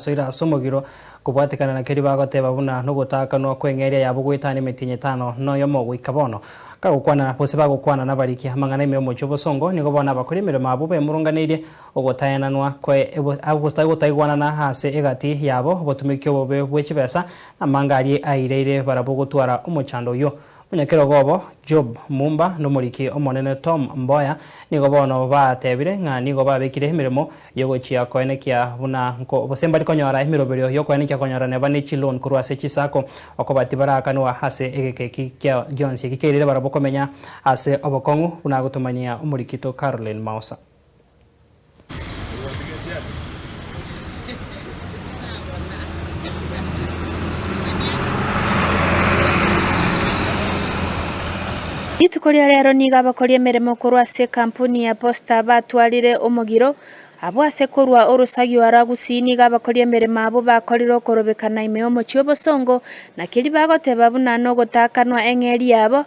Soira ase omogiro, kobwatekana na keria bagoteba, buna nogotaakanwa kw'eng'eria yabo goetana emetienyi etano na oyomo goika bono. Kagokwana, gose bagokwana nabariki amang'ana ime omochie obosongo, nigo bono abakori emeremo abwo bemurunganeirie ogotaenanwa kwaye, gotaigwanana ase egati yabo, obotumeki obobe bwe chibesa, na amanga aria aireire barabwo gotwara omochando oyio. Omonyakerogobo Job Mumba n'omoriki omonene Tom Mboya nigo bono baatebire ng'a nigo babekire emeremo y'ogochia koenekia buna nko gose mbari konyora emeroberio y'okoenekia konyora neba ne chiloan korwa ase chisako okoba tibaraakanwa ase egeka eki gionsi eki keirire barabwo komenya ase obokong'u, buna agotomanyia omorikito Caroline Maosa. Rituko ria reero nigo abakori emeremo korwa ase ekampuni ya Posta batwarire omogiro. Abwo ase korwa orosagio ara Gusii nigo abakori emeremo abwo bakorire okorobekana ime y'omochie o Bosongo, na keria bagoteba buna nogotaakanwa eng'eria yabo,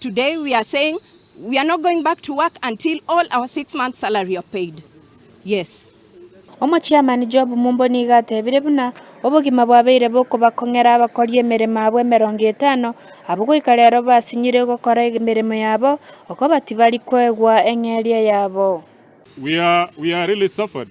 Today we are saying we are not going back to work until all our six months salary are paid. Yes. Omochiamani Job Mumbo nigo atebire buna obogima bwabeire bokobakong'era abakori emeremo abwo emerongo etano, abwo goika rero basinyire gokora emeremo yabo, okobati bari koegwa eng'eria yabo. We are we are really suffered.